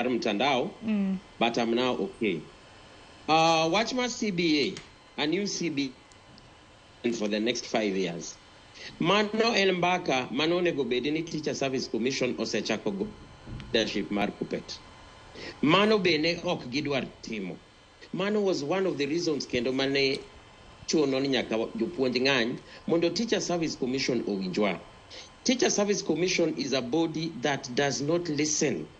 mar mtandao mm. but I'm now okay. Uh, watch my CBA, a new CBA for the next five years. Mano en mbaka mano onego bedi ni Teacher Service Commission osechako go leadership mar Kuppet. Mano bende ok gidwar timo. Mano was one of the reasons kendo mane chuno ni nyaka jopuonj ng'any mondo Teacher Service Commission owinjwa. Teacher Service Commission is a body that does not listen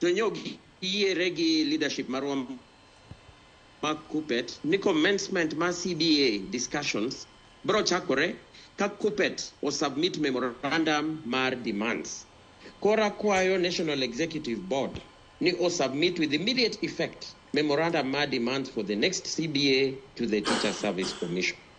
To nyo giyiere gi leadership marwa ma KUPPET ni commencement ma CBA discussions bro chakore ka KUPPET o submit memorandum mar demands. Koro akwayo National Executive Board ni o submit with immediate effect memorandum mar demands for the next CBA to the Teacher Service Commission.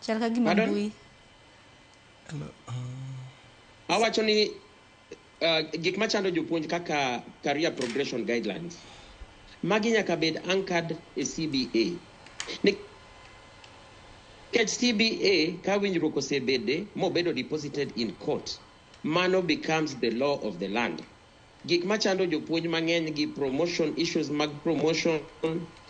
chal ka gima Pardon? mbui awacho ni uh, gik machando jopuonj kaka career progression guidelines magi nyaka bed anchored e cba Ni- nikech cba ka winjruok osebede mobedo deposited in court mano becomes the law of the land gik machando jopuonj mang'eny gi promotion issues mag promotion